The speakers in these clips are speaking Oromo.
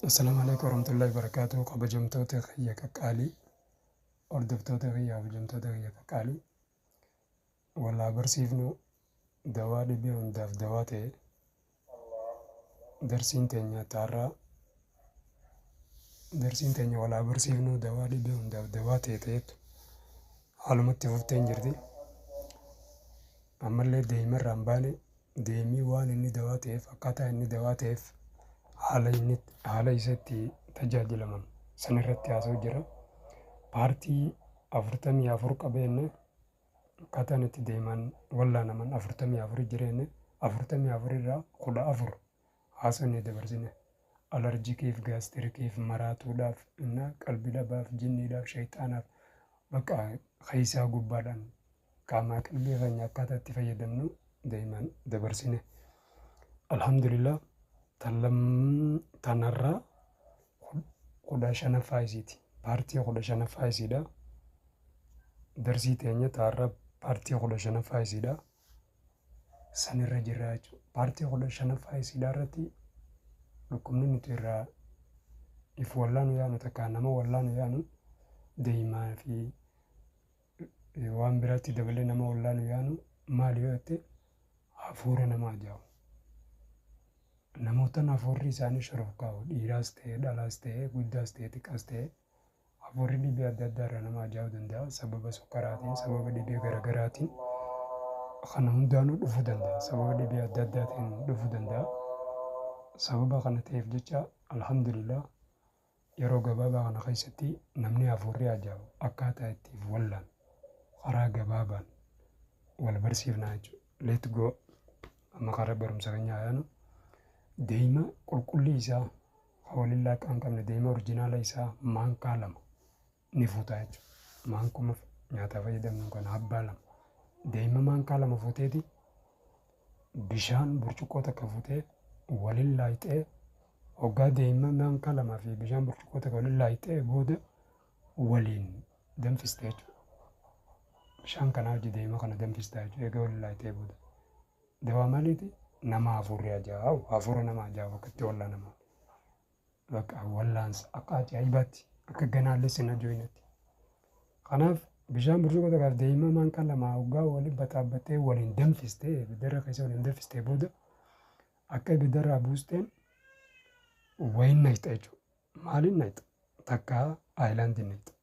Assalaamu alaikum warahmatullahi wabarakatuh kabajamtoota kiyya qaqqaalii hordoftoota kiyya kabajamtoota kiyya qaqqaalii wal haa barsiifnu dawaa dhibee hundaaf dawaa ta'e darsiin teenya taarraa darsiin teenya wal haa barsiifnu dawaa dhibee hundaaf dawaa ta'e ta'etu haalumatti fufteen jirti ammallee deeyimarraa hin baane deemii waan inni dawaa ta'eef akkaataa inni dawaa ta'eef haala inni haala isa itti tajaajilaman san irratti haasa'u jira. Paartii afurtamii afur qabeenne akkaataan itti deeman wallaanaman afurtamii afur jireenne afurtamii afur irraa kudha afur haasofne dabarsine. Alarjikiif, gaastirikiif, maraatuudhaaf, na qalbi dhabaaf, jinniidhaaf, shayxaanaaf bakka keessaa gubbaadhaan qaamaa qalbii keenya akkaataa itti fayyadamnu daa'imaan dabarsine. Alhamdulillah tanarraa kudha shanaffaa isiiti. Paartii kudha shanaffaa isiidha. Darsii teenya taarraa paartii kudha shanaffaa isiidha. san irra jirra jechuudha. Paartii kudha shanaffaa isiidhaa irratti dhukkubni nuti irraa if wallaanu yaanu takka nama wallaanu yaanu deemaa fi waan biraatti dabalee nama wallaanu yaanu maal yoo jette hafuura nama ajaa'ibu. Namoota hafuurri isaanii shororkaa'u dhiiraas ta'e dhalaas ta'e guddaas ta'e xiqqaas ta'e Hafuurri dhibee adda addaa irraa nama ajaa'uu danda'a. Sababa sukkaraatiin, sababa dhibee garagaraatiin kana hundaanuu dhufuu danda'a. Sababa dhibee adda addaatiin dhufuu danda'a. Sababa kana ta'eef jecha alhamdulillah yeroo gabaabaa kana keessatti namni hafuurri ajaa'u akkaataa itti of wallaan karaa gabaabaan wal barsiifnaa jechuudha. Let go amma karaa barumsa keenyaa yaanu deema qulqullii isaa foon illaa akka hin qabne deemee orijinaala isaa maankaa lama ni fuuta jechuudha. Maankuma nyaataa fayyadamnu kan abbaa lama. Deema maankaa lama fuuteeti bishaan burcuqqoo takka fuutee waliin laayixee hoggaa deema maankaa lamaa fi bishaan burcuqqoo takka waliin laayixee booda waliin danfiste jechuudha. Bishaan kanaa hojii deema kana danfistaa jechuudha egaa waliin laayixee booda. Dawaa maliiti nama hafuurri ajaa'u hafuura nama ajaa'u akka itti wallaanamu bakka wallaansa akka ajaa'ibaatti akka ganaallee sin ajo'inatti. Kanaaf bishaan burcuqoo tokko deemaa maan kan lamaa hoggaa waliin bataabattee waliin danfistee ibidarra keessa waliin danfistee booda akka ibidarraa buusteen wayiin naqxa jechuudha. Maaliin naqxa? Takka aayilaandiin naqxa.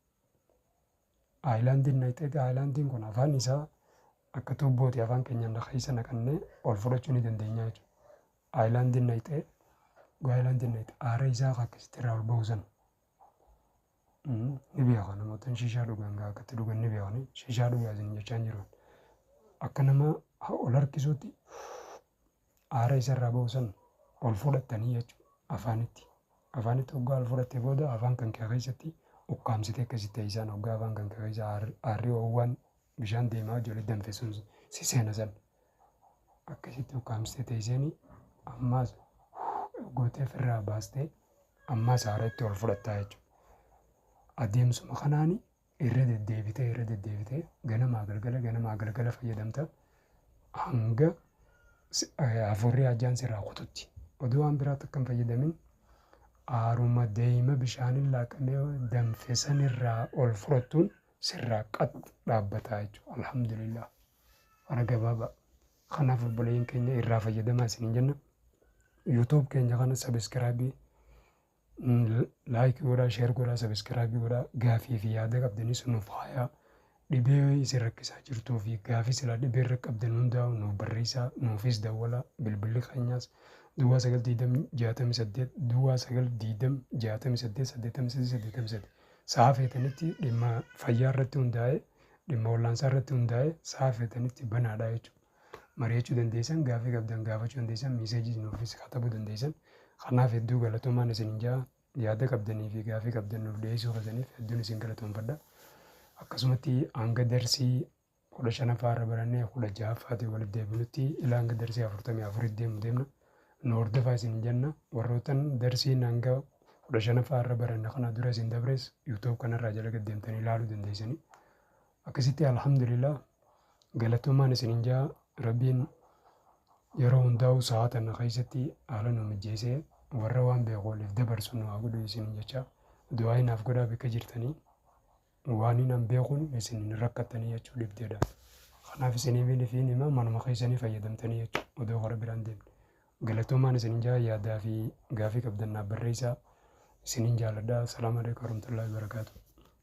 Ayilaandiin naqxee egaa ayilaandiin kun afaan isaa akka tuubbooti afaan keenyaan keessa naqannee ol fudhachuu ni dandeenya jechuudha. Ayilaandiin naqxee egaa ayilaandiin naqxee aara isaa akka akkasitti irraa ol ba'u sana ni beeka namoota shishaa dhugan egaa akka itti dhugan ni beekani shishaa dhugaa isin jechaa hin jiru. Akka nama ol harkisuutti aara isa irraa ba'u san ol fudhattanii jechuudha. Afaanitti. Afaanitti hoggaa ol fudhattee booda afaan kan kee keessatti ukkaamsitee akkasitti teessaan hoggaa afaan kan kee keessa aarri hoowwaan bishaan deemaa ijoollee danfe sun si seena san. Akkasitti ukkaamsitee teesseen ammaas gootee ofirraa baastee ammaas aara itti ol fudhattaa jechuudha. Adeemsuma kanaan irra deddeebitee irra deddeebitee ganamaa galgala ganamaa galgala fayyadamta hanga si- eh, hafuurri ajjaan sirraa kututti oduu waan biraatti akka hin fayyadamin aaruma deeyma bishaaniin laaqamee danfesan irraa ol fudhattuun sirraa qax dhaabbataa jechuudha alhamdulillah fara gabaabaa kanaaf obboleeyyiin keenya irraa fayyadamaa isiniin jenna yuutuub keenya kana sabiskiraabii Like godhaa, share godhaa, subscribe godhaa. Gaafii fi yaada qabdanis nuuf haayaa. Dhibee isin rakkisaa jirtuu fi gaafii silaa dhibee irra qabdan hundaa'u nuuf barreessaa, nuufis dawwalaa. Bilbilli keenyas duwwaa sagal diidam jaatamii saddeet duwwaa sagal diidam jaatamii saddeet saddeettamii sadii saddeettamii sadii. Sa'a feetanitti dhimma fayyaa irratti hundaa'ee dhimma wallaansaa irratti hundaa'ee sa'a feetanitti banaadha jechuudha. mari'achuu dandeessan, gaafii qabdan gaafachuu dandeessan, miiseejiis nuufis katabuu dandeessan. Kanaaf hedduu galatoomaan isiniin ja'a. Yaada qabdanii fi gaafii qabdan nuuf dhiyeessuu keessaniif hedduun isin galatoomfadha. Akkasumatti hanga darsii kudha shanaffaa irra barannee kudha ja'affaatiin walitti deebinutti ilaa hanga darsii afurtamii afurii deemu deemna. Nu hordofaa isin jenna. Warrootan darsiin hanga kudha shanaffaa irra baranne kana dura isin dabres YouTube kanarraa jala gad deemtanii ilaaluu dandeessanii. Akkasitti Alhamdulillah galatoomaan isinin jaa Rabbiin yeroo hundaa'u sahaa tanna keessatti haala nu mijjeessee warra waan beeku waliif dabarsu nu haa godhu isinin jecha du'aa hinaaf godhaa bakka jirtanii waan hinan beekun isin hin rakkattanii jechuu dhibdeedha. Kanaaf isiniif hin hima manuma keessanii fayyadamtanii jechuudha odoo gara biraan deemne. Galatoomaan isinin jaa yaadaa fi gaafii qabdan naaf barreessaa isinin jaaladha. Salaamu alaikum warahmatullahi wabarakatuh.